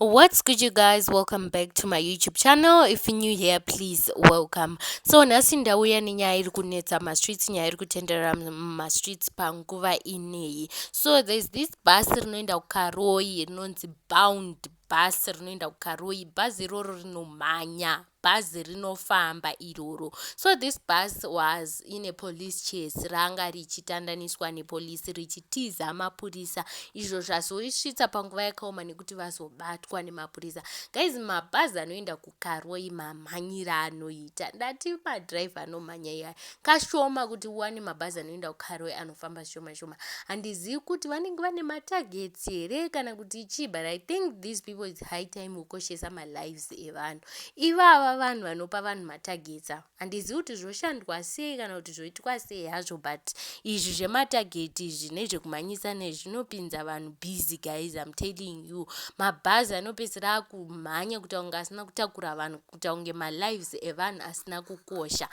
what's good you guys welcome back to my youtube channel if you're new here please welcome so nhasi ndauya nenyaya iri kunetsa mastreets nyaya iri kutenderera mumastreets panguva ineyi so there's this bus rinoenda kukaroyi rinonzi bound bus rinoenda kukaroyi bhazi iroro rinomhanya bhazi rinofamba iroro so this bus was in a police chase ranga richitandaniswa nepolisi richitiza mapurisa izvo zvazoisvitsa panguva yakaoma nekuti vazobatwa nemapurisa guys mabhazi anoenda kukaroi mamhanyira anoita ndati madrive anomhanya iyaya kashoma kuti uwane mabhazi anoenda kukaroi anofamba shoma shoma handizivi kuti vanenge vane matagets here kana kuti chii but i think these people its high time kukoshesa malives mabhokisi evanhu. Ivava vanhu vanopa vanhu matargets ava. Handizivi kuti zvoshandwa sei kana kuti zvoitwa sei hazvo but izvi zvematarget izvi nezvekumhanyisa nezvi zvinopinza vanhu busy guys I'm telling you. Mabhazi anopedzisira akumhanya kuita kunge asina kutakura vanhu kuita kunge malives evanhu asina kukosha.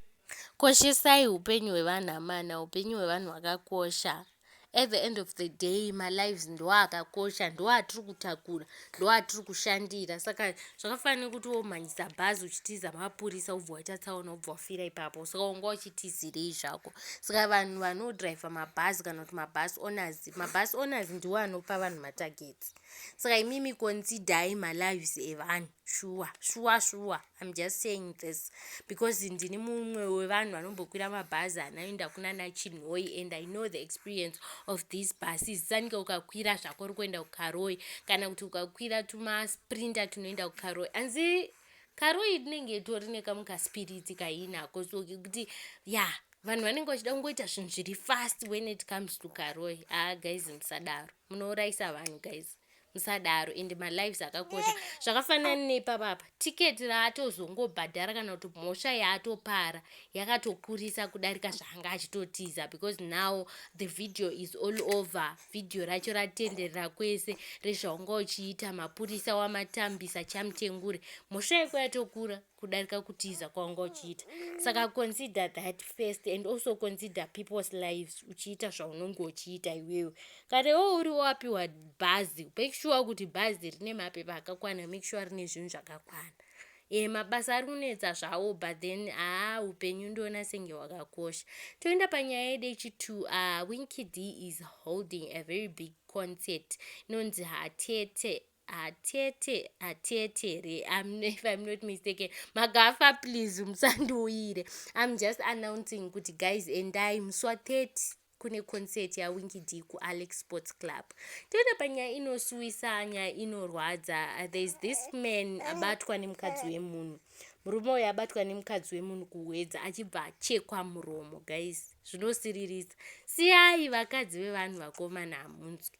Koshesai upenyu hwevanhu amana, upenyu hwevanhu hwakakosha. At the end of the day malives ndoakakosha ndoatiri kutakura ndoatiri kushandira saka zvakafanana nekuti womhanyisa bhazi uchitiza mapurisa wobva waita tsaona wobva wafira ipapo saka wanga uchitizirei zvako saka vanhu vanodriver mabhazi kana kuti mabhasi owners mabhasi owners ndiwo anopa vanhu matargets saka imimi considai malives evanhu shuwa shuwa shuwa I'm just saying this because ndini mumwe wevanhu vanombokwira mabhazi anoenda kuna nachinhoi and i know the experience of these buses sanike ukakwira zvako uri kuenda kukaroi kana kuti ukakwira tumasprinter tunoenda kukaroi anzi karoi rinenge itori nekamu kaspiritsi kainako so kuti ya vanhu vanenge vachida kungoita zvinhu zviri fast when it comes to karoi a ah, guys musadaro munourayisa vanhu guys musadaro and malives akakosha zvakafanana nepapa apa tiketi raatozongobhadhara kana kuti mhosva yaatopara yakatokurisa kudarika zvaanga achitotiza because now the video is all over video racho ratenderera kwese rezvaunga uchiita mapurisa wamatambisa chamutengure mhosva yako yatokura kudarika kutiza kwawanga uchiita saka consider that first and also consider people's lives uchiita zvaunonge uchiita iwewe kana iwewe uri wapiwa bhazi make sure kuti bhazi rine mapepa akakwana make sure rine zvinhu zvakakwana e mabasa ari kunetsa zvawo but then haa upenyu ndiona senge hwakakosha toenda panyaya yedu yechitwo uh, ah, winkid is holding a very big concert inonzi hatete atete atete here I'm, if i'm not mistaken magafa please musandiuyire i'm just announcing kuti guys endai musi wa 30 kune concert yawingi d kualex sports club toenda panyaya inosuwisa nyaya inorwadza thereis this man abatwa nemukadzi wemunhu murume uyo abatwa nemukadzi wemunhu kuhwedza achibva achekwa muromo guys zvinosiririsa siyai vakadzi vevanhu vakomana hamunzwi